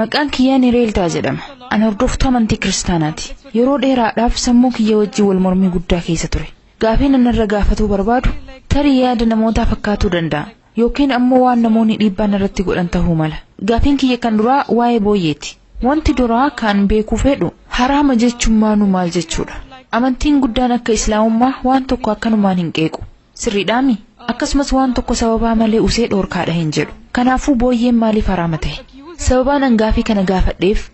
Maqaan kiyyaa Nireeltaa jedhama. An hordoftuu amantii kiristaanaati. Yeroo dheeraadhaaf sammuu kiyya wajjin wal mormii guddaa keessa ture. Gaafiin an irra gaafatuu barbaadu tarii yaada namootaa fakkaatuu danda'a. Yookiin ammoo waan namoonni dhiibbaa narratti godhan tahuu mala. Gaafiin kiyya kan duraa waa'ee booyyeeti. Wanti duraa kan beekuu fedhu haraama jechuun maanuu maal jechuudha? Amantiin guddaan akka islaamummaa waan tokko akkanumaan hin qeequ. Sirriidhaami? Akkasumas waan tokko sababaa malee usee dhoorkaadha hin jedhu. Kanaafuu booyyeen maaliif haraama ta'e? Sababaan an gaafii kana gaafadheef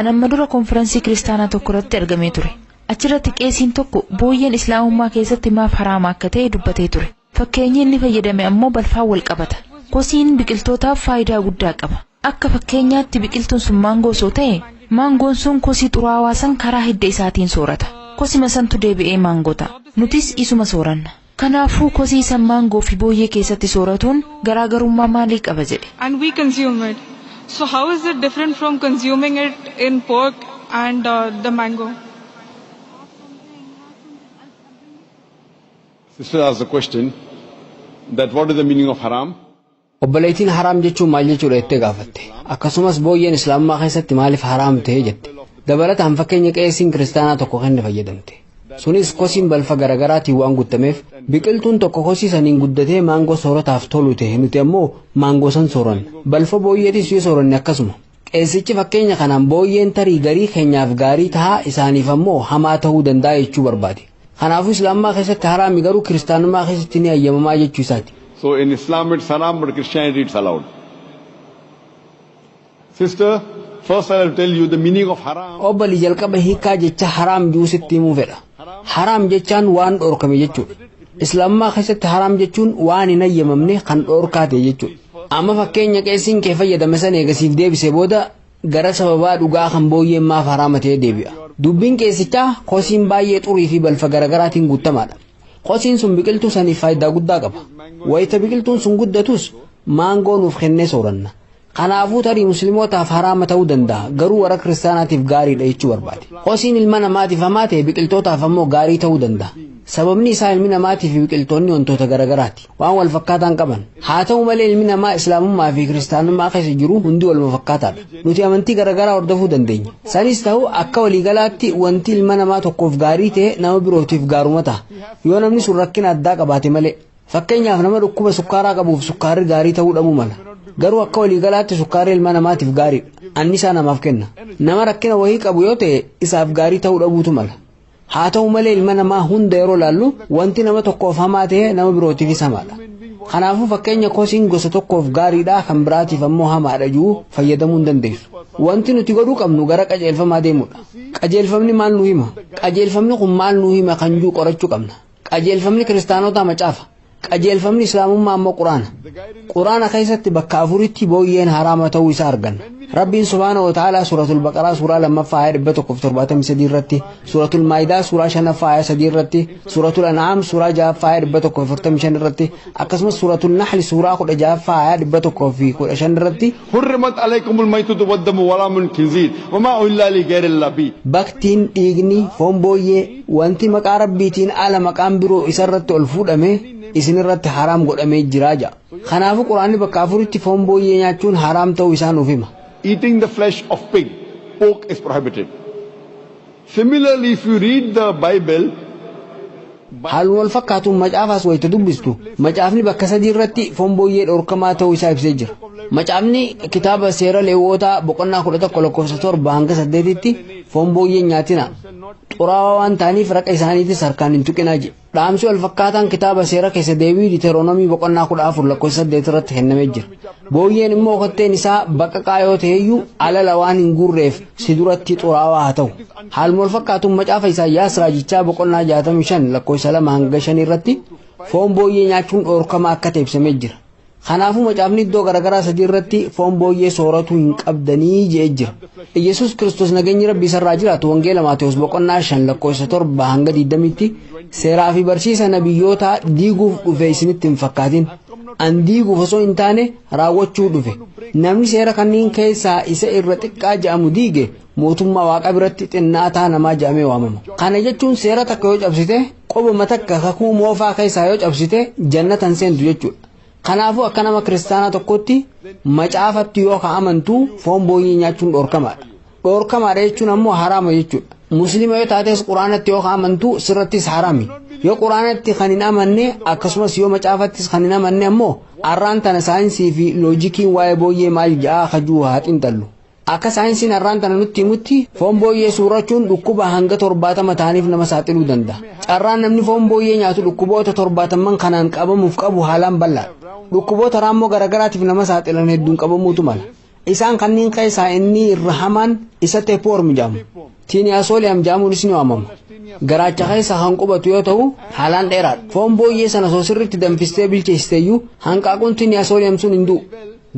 an amma dura konfiransii kiristaanaa tokko irratti argamee ture. Achirratti qeesiin tokko booyyeen islaamummaa keessatti maaf haraama akka ta'e dubbatee ture. Fakkeenyi inni fayyadame ammoo balfaan wal qabata. Kosiin biqiltootaaf faayidaa guddaa qaba. Akka fakkeenyaatti biqiltuun sun maangoo osoo ta'e, maangoon sun kosii xuraawaa san karaa hidda isaatiin soorata. Kosima santu deebi'ee maangoo ta'a. Nutis isuma sooranna. Kanaafuu kosii san maangoo fi booyyee keessatti sooratuun garaagarummaa maalii qaba jedhe. and we consume it. So how is it different from consuming it in pork and the mango? Sister asked the question that what is the meaning of haram? Obboleettiin haraam jechuun maal jechuudha jettee gaafatte. Akkasumas booyyeen islaamummaa keessatti maaliif haraam ta'e jette. Dabalataan fakkeenya qeesiin kiristaanaa tokko kenne fayyadamte. Sunis kosiin balfa garagaraatiin waan guttameef biqiltuun tokko kosii saniin guddatee maangoo soorataaf tolu ta'e nuti ammoo maangoo san sooranna. Balfa booyyeetis yoo sooranne akkasuma. Qeesichi fakkeenya kanaan booyyeen tarii garii keenyaaf gaarii tahaa isaaniif ammoo hamaa ta'uu danda'a jechuu barbaade. Kanaafuu Islaamummaa keessatti haraami garuu Kiristaanummaa keessatti ni hayyamamaa jechuu isaati. So in Islam it's haram but Christianity it's allowed. Sister, first I will tell you the meaning of haram. Obbali jalqaba hiikaa jecha haraam jiru sitti himuu fedha. Haraam jechaan waan dhoorkame jechuudha. Islaamummaa keessatti haraam jechuun waan hin hayyamamne kan dhoorkaa ta'e jechuudha. Amma fakkeenya qeessiin kee fayyadame san eegasiif deebisee booda gara sababaa dhugaa kan booyyeen maaf haraama ta'ee deebi'a. Dubbiin qeessichaa kosiin baay'ee xurii fi balfa garaagaraatiin guuttamaadha. Kosiin sun biqiltuu saniif faayidaa guddaa qaba. Wayita biqiltuun sun guddatus maangoo nuuf kennee sooranna. Kanaafuu tarii muslimootaaf haraama ta'uu danda'a garuu warra kiristaanaatiif gaariidha jechuu barbaade. Kosiin ilma namaatiif hamaa ta'e biqiltootaaf ammoo gaarii ta'uu danda'a. Sababni isaa ilmi namaatii fi biqiltoonni wantoota garaagaraati. waan wal fakkaataan qaban haa ta'u malee ilmi namaa islaamummaa fi kiristaanummaa keessa jiru hundi waluma fakkaataadha nuti amantii garaagaraa hordofuu dandeenya sanis ta'u akka waliigalaatti wanti ilma namaa tokkoof gaarii ta'e nama birootiif gaaruma ta'a yoo namni sun rakkina addaa qabaate malee fakkeenyaaf nama dhukkuba sukkaaraa qabuuf sukkaarri gaarii ta'uu dhabuu mala garuu akka waliigalaatti sukkaarri ilma namaatiif gaariidha annisaa namaaf kenna nama rakkina wahii qabu yoo ta'e isaaf gaarii ta'uu dhabuutu mala Haa ta'u malee ilma namaa hunda yeroo laallu wanti nama tokkoof hamaa ta'e nama birootiifis hamaadha. Kanaafuu fakkeenya kosiin gosa tokkoof gaariidha kan biraatiif ammoo hamaadha jiru fayyadamuu hin dandeessu. Wanti nuti godhuu qabnu gara qajeelfamaa deemuudha. Qajeelfamni maal nu hima? Qajeelfamni kun maal nu hima kan jiru qorachuu qabna. Qajeelfamni kiristaanotaa macaafa. Qajeelfamni islaamummaa ammoo quraana. Quraana keessatti bakka afuritti booyyeen haraama ta'uu isaa arganna. Rabbiin subhaana wa ta'aalaa suuratul baqaraa suuraa lammaffaa ayaa dhibba tokkoof torbaatamii sadii irratti, suuratul maayidaa suuraa shanaffaa ayaa sadii irratti, suuratul an'aam suuraa ja'affaa ayaa dhibba tokkoof afurtamii shan irratti, akkasumas suuratul nahli suuraa kudha ja'affaa ayaa dhibba tokkoof kudha shan irratti Hurrimat aleykumul maytatu waddamu walaamul kinziir wamaa uhillaa lii gayrillah bi. Baktiin, dhiigni, foon booyyee, wanti maqaa Rabbiitiin ala maqaan biroo isa irratti ol fuudhame isin irratti haraam godhamee jira ja'a. Kanaafu Qur'aanni bakka afuritti foon booyyee nyaachuun haraam ta'uu isaa nuuf hima. Eating the flesh of pig, pork is prohibited. Similarly if you read the bible. Haaluma wal fakkaatuun macaafaas wayita dubbistu, macaafni bakka sadii irratti foon booyyee dhorkamaa ta'uu isaa ibsee jira. Macaafni kitaaba seera Leewwootaa boqonnaa 11 lakkoofsa 7 hanga 8tti foon booyyee hin nyaatinaa. Xuraawaa waan ta'aniif raqa isaaniitis harkaan hin tuqinaa jedhe. Dhaamsi wal fakkaataan kitaaba seera keessa deebii Diteeroonomii boqonnaa 14 lakkoofsa 8 irratti kennamee jira. Booyyeen immoo kotteen isaa baqaqaa yoo ta'eyyuu alala waan hin guurreef si duratti xuraawaa haa ta'u. Haaluma wal fakkaatuun macaafa Isaayyaas raajichaa boqonnaa 65 lakkoofsa 2 hanga 5 irratti foon booyyee nyaachuun dhoorkama akka ta'e ibsamee jira. Kanaafuu macaafni iddoo garaagaraa sadii irratti foon booyyee sooratuu hin qabdanii je'ee jira. Iyyasuus Kiristoos nageenyi Rabbii isarraa jiraatu wangeela Maatewos boqonnaa 5 lakkoofsa 7 hanga 20tti seeraa fi barsiisa nabiyyootaa diiguuf dhufe isinitti hin fakkaatin. An diiguuf osoo hin taane raawwachuu dhufe. Namni seera kanneen keessaa isa irra xiqqaa ja'amu diige mootummaa waaqa biratti xinnaataa namaa jedhamee waamama. Kana jechuun seera takka yoo cabsite qobuma takka kakuu moofaa keessaa yoo cabsite jannata hin seentu jechuudha. Kanaafuu akka nama kiristaanaa tokkotti macaafatti yoo ka amantu foon booyyee nyaachuun dhorkamaadha. Dhorkamaadha jechuun ammoo haraama jechuudha. Musliima yoo taates quraanatti yoo ka amantu sirrattis haraami. Yoo quraanatti kan hin amanne akkasumas yoo macaafattis kan hin amanne ammoo arraan tana saayinsii fi loojikiin waa'ee booyyee maal jedhaa kajuu haa xinxallu. Akka saayinsiin har'aan tana nutti himutti foon booyyee suurachuun dhukkuba hanga torbaatama ta'aniif nama saaxiluu danda'a. Carraan namni foon booyyee nyaatu dhukkuboota torbaatamman kanaan qabamuuf qabu haalaan bal'aadha. Dhukkuboota raammoo garagaraatiif nama saaxilan hedduun qabamuutu mala. Isaan kanneen keessaa inni irra hamaan isa teepwoorm jedhama. Tiiniyaasooleem jedhamuunis ni waamama. Garaacha keessa kan qubatu yoo ta'u, haalaan dheeraadha. Foon booyyee sana osoo sirriitti danfistee bilcheessisteyyuu hanqaaquun tiiniyaasooleem sun hin du'u.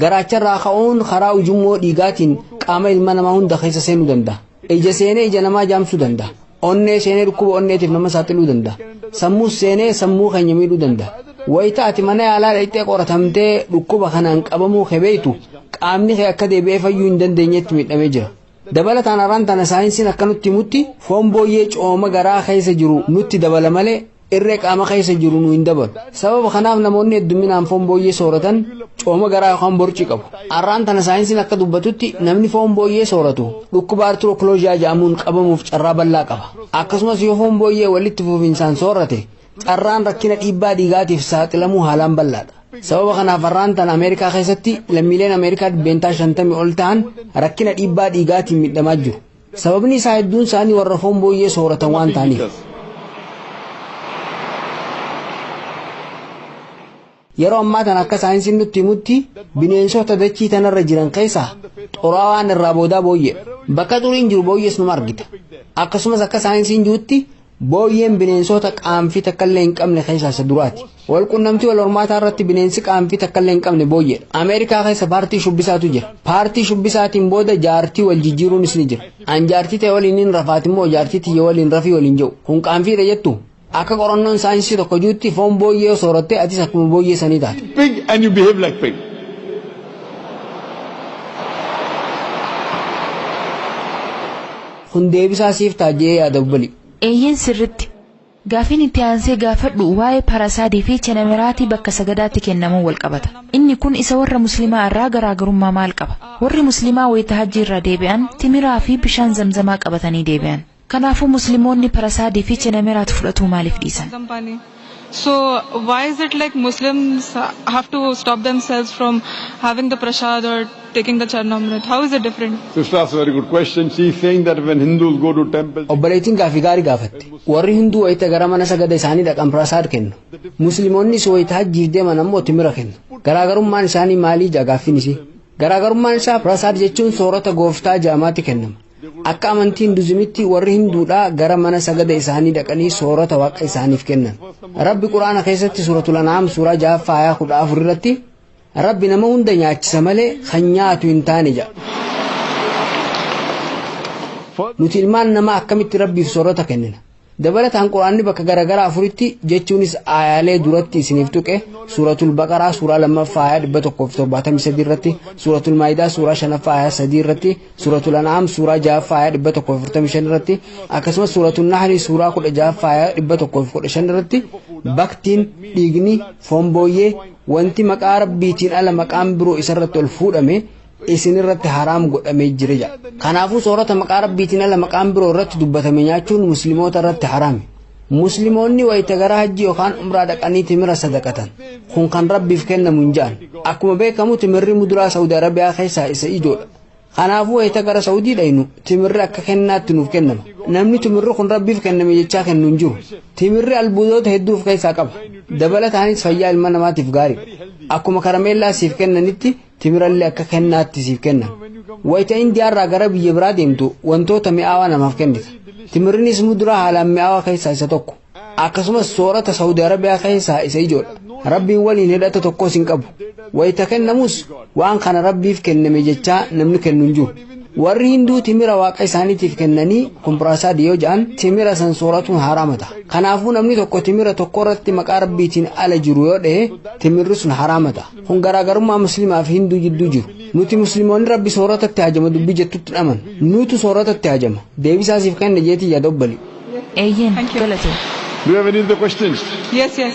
Garaacharraa ka'uun karaa ujummoo dhiigaatiin qaama ilma namaa hunda keessa seenuu danda'a. Ija seenee ija namaa jaamsuu danda'a. Onnee seenee dhukkuba onneetiif nama saaxiluu danda'a. Sammuus seenee sammuu keenya miidhuu danda'a. Wayita ati mana yaalaa dhaqxee qoratamtee dhukkuba kanaan qabamuu kee beektu qaamni kee akka deebi'ee fayyuu hin dandeenyetti miidhamee jira. Dabalataan araan tana saayinsiin akka nutti himutti foon booyyee cooma garaa keessa jiru nutti dabala malee irree qaama keessa jiru nu hin dabalu. Sababa kanaaf namoonni heddumminaan foon booyyee sooratan cooma garaa yookaan borcii qabu. Arraan tana saayinsiin akka dubbatutti namni foon booyyee sooratu dhukkuba artirookilooziyaa jedhamuun qabamuuf carraa bal'aa qaba. Akkasumas yoo foon booyyee walitti fufinsaan soorate Carraan rakkina dhiibbaa dhiigaatiif saaxilamuu haalaan bal'aadha. Sababa kanaaf har'aan tana Ameerikaa keessatti lammiileen Ameerikaa dhibbeentaa shantamii ol ta'an rakkina dhiibbaa dhiigaatiin miidhamaa jiru. Sababni isaa hedduun isaanii warra foon booyyee sooratan waan ta'aniif. Yeroo ammaa tana akka saayinsiin nutti himutti bineensota dachii tanarra jiran keessaa xuraawaan irraa boodaa booyyeedha. Bakka xuriin jiru booyyees numa argita. Akkasumas akka saayinsiin jirutti booyyeen bineensota qaanfii takkallee hin qabne keessaa isa duraati. Wal qunnamtii wal hormaataa irratti bineensi qaanfii takkallee hin qabne booyyeedha. Ameerikaa keessa paartii shubbisaatu jira. Paartii shubbisaatiin booda jaartii wal jijjiiruunis ni jira. An jaartii ta'e waliin hin rafaati immoo jaartii tiyya waliin rafii waliin jedhu. Kun qaanfiidha jettu? Akka qorannoon saayinsii tokko juutti foon booyyee yoo sooratte atis akkuma booyyee sanii taata. pig and you behave like pig. Kun deebisaa siif ta'a je'ee yaada obbolii. Eeyyeen sirritti. Gaafiin itti aansee gaafadhu waa'ee parasaadii fi chenemeraatii bakka sagadaatti kennamuun wal qabata. Inni kun isa warra muslimaa irraa garaagarummaa maal qaba? Warri muslimaa wayita hajjii irraa deebi'an timiraa fi bishaan zamzamaa qabatanii deebi'an. Kanaafuu Muslimoonni Parasaadii fi Chenameraat fudhatuu maaliif dhiisan? So why is it like Muslims have to stop themselves from having the prasad or taking the Charnamrit? How is it different? Sister asked a very good question. She is saying that when Hindus go to temple, they Obboleettiin gaaffii gaarii gaafatte. Warri Hinduu wayita gara mana sagada isaanii dhaqan Prasaad kennu. Muslimoonnis wayita hajjiif deeman ammoo timira kennu. Garaagarummaan isaanii maalii ja'a gaaffiin isii? Garaagarummaan isaa Prasaad jechuun soorata gooftaa jaamaatti kennama. Akka amantii Hinduzimitti warri Hinduudhaa gara mana sagada isaanii dhaqanii soorata waaqa isaaniif kennan. Rabbi Qur'aana keessatti suuratul An'aam suuraa ja'affaa ayaa kudha afur irratti Rabbi nama hunda nyaachisa malee kan nyaatu hin taane jedha. Nuti ilmaan namaa akkamitti Rabbiif soorata kennina? Dabalataan Qur'aanni bakka garaagaraa afuritti jechuunis aayaalee duratti isiniif tuqe suuratul baqaraa suuraa lammaffaa aayaa dhibba tokkoo fi torbaatamii sadii irratti suuratul maayidaa suuraa shanaffaa aayaa sadii irratti suuratul an'aam suuraa ja'affaa aayaa dhibba tokkoo fi afurtamii shan irratti akkasumas suuratul nahrii suuraa kudha ja'affaa aayaa dhibba tokkoo fi kudha shan irratti baktiin dhiigni foon booyyee wanti maqaa rabbiitiin ala maqaan biroo isarratti ol fuudhame isin irratti haraam godhamee jira jedha. Kanaafuu soorata maqaa rabbiitiin ala maqaan biroo irratti dubbatame nyaachuun muslimoota irratti haraami. Muslimoonni wayita gara hajji yookaan umraa dhaqanii timira sadaqatan. Kun kan rabbiif kennamu hin ja'an. Akkuma beekamu timirri muduraa Saudi Arabiyaa keessaa isa ijoodha. Kanaafuu wayita gara Saudii dhaynu timirri akka kennaatti nuuf kennama. Namni timirri kun rabbiif kenname jechaa kennu hin jiru. Timirri albuudoota hedduu of keessaa qaba. Dabalataanis fayyaa ilma namaatiif gaariidha. Akkuma karameellaa siif kennanitti timirallee akka kennaatti siif kenna. Wayita Indiyaarraa gara biyya biraa deemtu wantoota mi'aawaa namaaf kennita. Timirrinis muduraa haalaan mi'aawaa keessaa isa tokko. Akkasumas soorata Saawudi Arabiyaa keessaa isa ijoodha. Rabbiin waliin hidhata tokkos hin qabu. Wayita kennamus waan kana Rabbiif kenname jechaa namni kennu hin jiru. Warri Hinduu timira waaqa isaaniitiif kennanii kumpiraasaad yoo ja'an timira san sooratuun haraama ta'a. Kanaafuu namni tokko timira tokko irratti maqaa Rabbiitiin ala jiru yoo dhahe timirri sun haraama ta'a. Kun garaagarummaa muslimaa fi hinduu jidduu jiru. Nuti muslimoonni rabbi soorata itti hajama dubbii jettutti dhaman. Nuutu soorata itti hajama. Deebisaa siif kenne jeetii yaada obbali. Eeyyeen Thank you. galatoomi. Do you have any other questions? Yes, yes.